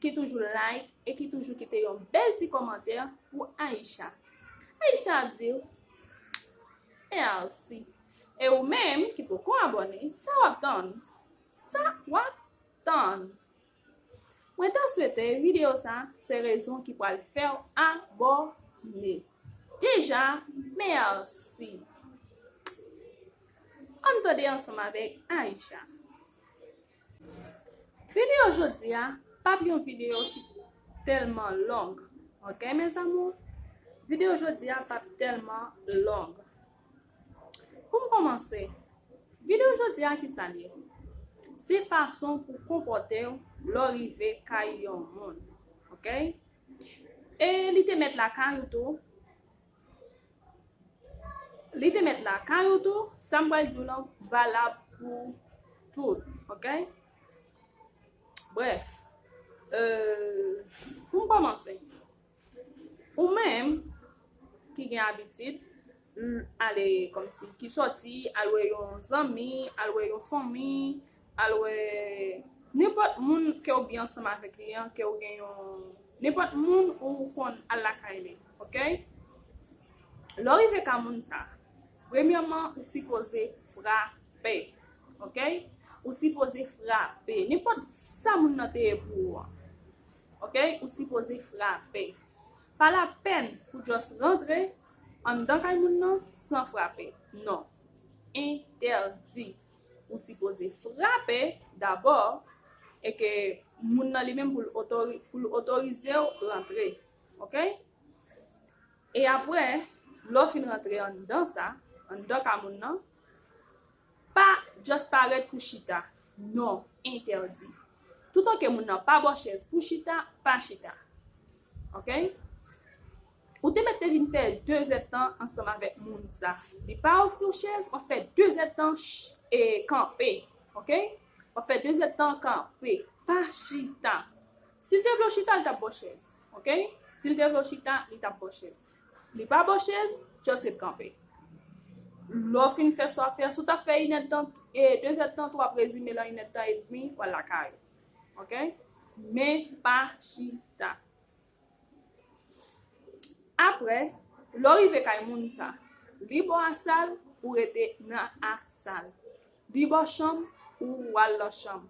ki toujou like e ki toujou kite yon bèl ti kòmantè pou Aïcha Aïcha ap diw merci e ou menm ki poko abòne sa wap tann sa wap tann mwen ta swete video sa se rezon ki pwal fèw abòne deja merci ann tande ansanm avèk Aïcha. Video jodi a pap yon video ki telman long ok mes amours video jodi a pap telman long poum komanse video jodi a ki sa li ye se fason pou konpote w lò rive kay yon moun ok e li te met la kay ou tou Li te met lakay ou tou, sa m pral di w lan valab pou tout, ok? Bref, euh, pou m kòmanse, ou menm ki gen abitid ale kòmsi, ki sòti al wè yon zanmi, al wè yon fanmi, Al wè nenpòt moun ke ou byen ansanm avèk li an, ke ou gen yon, nenpòt moun ou konn al lakay li, ok? Lè w rive ka moun sa, premyèman ou sipoze frape, ok? Ou sipoze frape, nenpòt sa moun nan te ye pou ou an, ok? Ou sipoze frape. Pa lapèn pou just rantre anndan kay moun nan san frape, non. Entèdi. ou sipoze frape dabò e ke moun nan li menm pou l otorize w rantre. Ok? E apre, lò fin rantre an dan sa, an dan ka moun nan, pa just parèt pou chita. Non, entèdi. Toutan ke moun nan pa bò chèz pou chita, pa chita. Ok? Ou te mèt te vin fè 2 zèd tan ansanm avèk moun sa li pa ofri w chèz wap fè 2 zèd tan kanpe ok wap fè 2 zèd tan kanpe pa chita sil te vle w chita li tap baw chèz ok sil te vle w chita li tap baw chèz li pa baw chèz just ret kanpe lè w fin fè sa wap fè si w tap fè inèd de tan 2 zèd tan tou wap rezime l an inèd de tan edmi wal lakay ou ok men pa chita. Apre, lè w rive kay moun sa, li bò asal, ou rete nan asal. Li bò chanm, ou al nan chanm.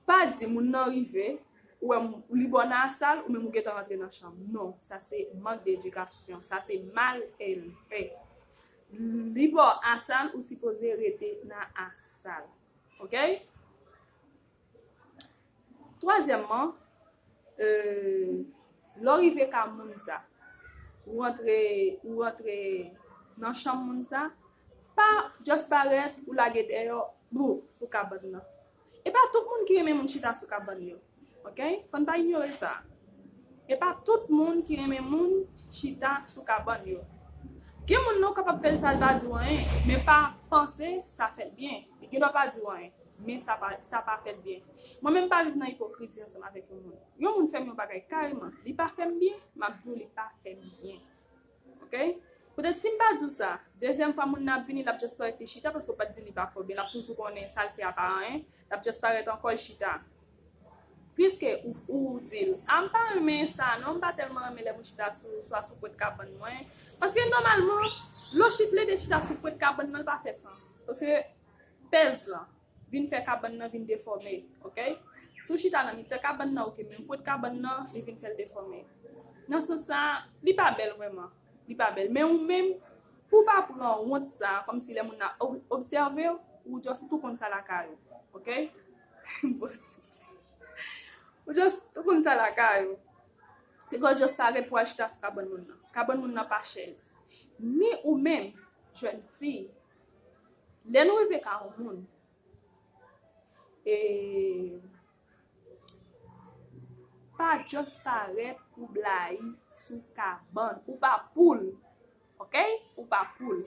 Pa di moun nan rive, ou wè li bò nan asal, ou menm ou gentan rantre nan chanm. Non, sa se mank de edikasyon. Sa se mal elve. Li bò asal, ou sipoze rete nan asal. Ok? Twazyèmman, lè w rive ka moun sa, ou rantre, ou rantre nan chanm moun sa, pa just parèt, ou lage deyò, bou, sou kabann nan. E pa tout moun ki renmen moun chita sou kabann yo. Ok? Fò n pa inyore sa. E pa tout moun ki renmen moun chita sou kabann yo. Gen moun non kapab fè l sa l pa di w anyen, men pa panse sa fè l byen. Li gendwa pa di w anyen. Men sa pa sa pa fè l byen. Mwen menm m pa viv nan ipokrizi ansanm avèk yon moun. Yon moun fè m yon bagay kareman, li pa fè m byen, m ap di w li pa fè m byen. Ok? Poutèt si m pa di w sa, dezyèm fwa moun nan ap vini, l ap just parèt li chita paske w pa t di l li pa fè w byen, l ap toujou konnen sa l fè a pa anyen, l ap just parèt ankò l chita. Piske ou di l, a m pa renmen sa non, m pa tèlman renmen lè moun chita sou swa sou pwent kabann mwen, paske nòmalman lò chit plede chita sou pwent kabann nan l pa fè sans. Paske Pèz lan vin fè kabann nan vin defòme ok. Si w chita nan mitan kabann nan ok men w kot kabann nan li vin fè l defòme. Nan sans sa a li pa bèl vrèman. Li pa bèl. Men ou menm pou w pa pran wont sa a kòmsi lè moun nan ap obsève w, ou just tou konn sa lakay ou ok. Bondye. Ou just tou konn sa lakay ou. Piga w just parèt pou w al chita sou kabann moun nan. Kabann moun nan pa chèz. Ni ou menm jèn fi Lè nou rive ka yon moun, e pa just parèt pou blayi sou kabann. Ou pa poul. Ok? Ou pa poul.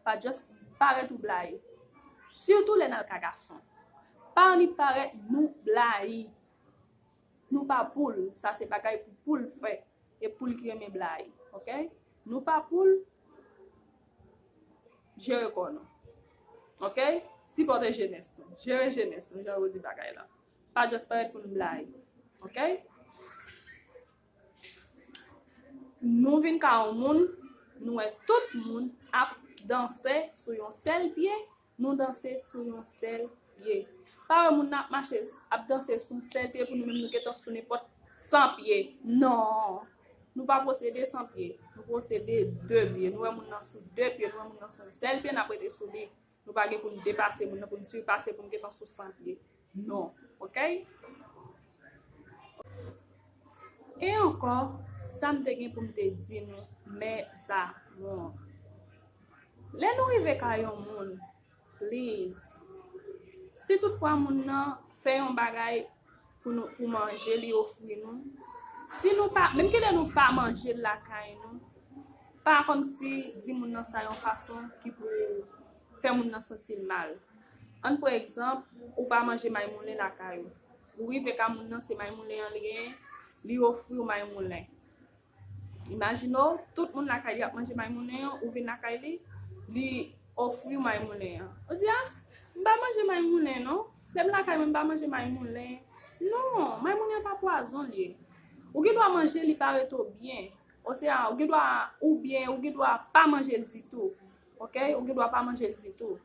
Pa just parèt ou blayi. Sitou lè nan ka gason. Pa annik parèt nou blayi. Nou pa poul, sa se bagay pou poul fè e poul ki renmen bly ok nou pa poul Jere kò nou ok sipòte jenès nou Jere jenès nou jan yo di bagay la pa just parèt pou nou bly ok Nou vin ka yon moun nou wè tout moun ap danse sou yon sèl pye Nou danse sou yon sèl pye. Pa wè moun nan ap mache, ap danse sou yon sèl pye pou nou menm nou gentan sou nenpòt 100 pye. Non! Nou pa posede 100 pye. Nou posede 2 pye. Nou wè moun nan sou 2 pye, nou wè moun nan sou yon sèl pye, n ap rete sou li. Nou pa gen pou n depase moun nan, pou n sipase pou n gentan sou 100 pye. Non ok. E ankò sam te gen poum te di nou mes amours. Lè nou rive kay yon moun please si tout fwa moun nan fè yon bagay pou nou pou manje li ofri nou si nou pa menm kilè nou pa manjel lakay nou pa kòmsi di moun nan sa yon fason ki pou fè moun nan santi l mal. Ann pran egzanp, ou pa manje maymoulen lakay ou. Ou rive ka moun nan se maymoulen an li genyen, li ofri w maymoulen. Imajine w, tout moun lakay li ap manje maymoulen an, ou vin lakay li, li ofri w maymoulen an. Ou di, ah, m pa manje maymoulen non. Lè m lakay mwen m pa manje maymoulen. Non, maymoulen an pa pwazon l ye. Ou gen dwa manje li pa ret ou byen. Osea ou gen dwa, oubyen ou gen dwa pa manje l ditou. Ok, ou gen dwa pa manje l ditou.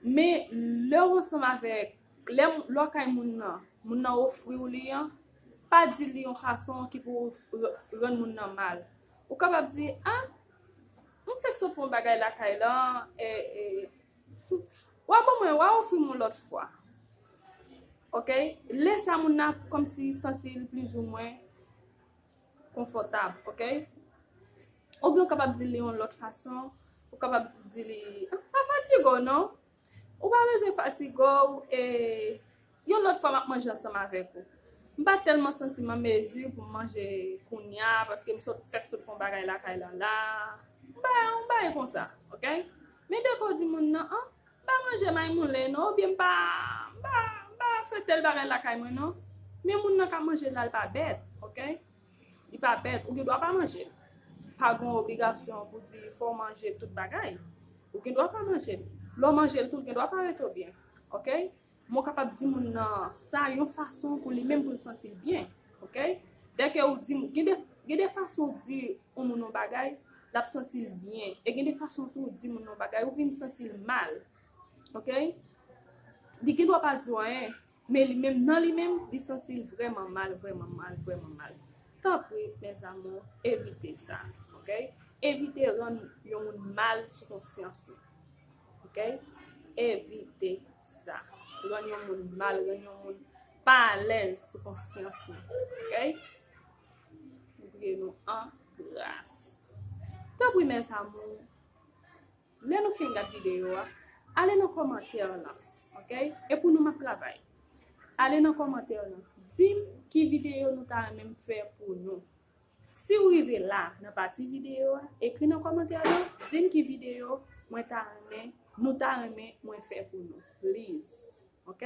Men, lè w ansanm avèk, lè w lakay moun nan, moun nan ofri w li an, pa di l li yon fason ki pou rann moun nan mal. Ou kapab di, A, m fèk sot pran bagay lakay lan, e, e, w a ban mwen, w a ofri m yon lòt fwa. Ok, lè sa moun nan ap kòmsi santi l plizoumwen. konfòtab ok oubyen ou kapab dil yon lòt fason ou kapab di li pa fatige w non ou pa bezwen fatige w e yon lòt fwa map manje ansanm avèk ou m pa tèlman santi m an mezi pou m manje kounya paske m sot fèk sot fè yon bagay lakay la la m bay yon bagay konsa ok men dèke w di moun nan an M pa manje maymoulen non oubyen m pa m pa m pa fè tèl bagay lakay mwen non men moun nan ka manje l la l pa bèt ok li pa bèt ou gen dwa pa manje l pa gen yon obligasyon pou di fò w manje tout bagay ou gen dwa pa manje l lè w manje l tou ou gen dwa pa rete w byen ok Mo kapab di moun nan sa yon fason pou li menm pou l santi l byen. Ok? Dè ke ou di moun, gen de, gen de fason ou di yon moun yon bagay, l ap santi l byen. E gen de fason tou ou di moun yon bagay, ou vin santi l mal. Ok? Li gen dwa pa di w anyen, men li menm, nan li menm, li santi l vrèman mal, vrèman mal, vrèman mal. Tanpri, mes amours, evite sa. Ok? Evite rann yon moun mal sou konsyans ou. ok evite sa rann yon moun mal rann yon moun pa alèz sou konsyans nou ok mwen priye nou an gras tanpri mes amours lè nou fin gad videyo a ale nan kòmantè lan ok e pou nou map travay ale nan kòmantè lan dim ki videyo nou ta renmen m fè pou nou Si ou rive la nan pati videyo a, ekri nan kòmantè yo, di m ki videyo mwen ta renmen, nou ta renmen mwen fè pou nou please. Ok?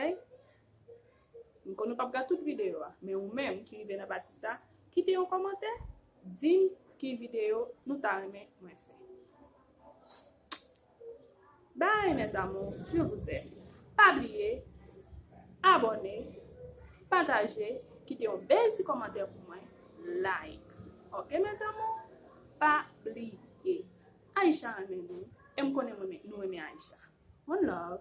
M konnen ou pap gad tout videyo a, men ou menm ki rive nan pati sa, kite yon kòmantè, di m ki videyo nou ta renmen mwen fè. Bye mes amours je vous aime pa bliye abòne pataje kite yon bèl ti kòmantè pou mwen like ok mes amours pa bliye Aïcha renmen nou e m konnen nou renmen Aïcha one love.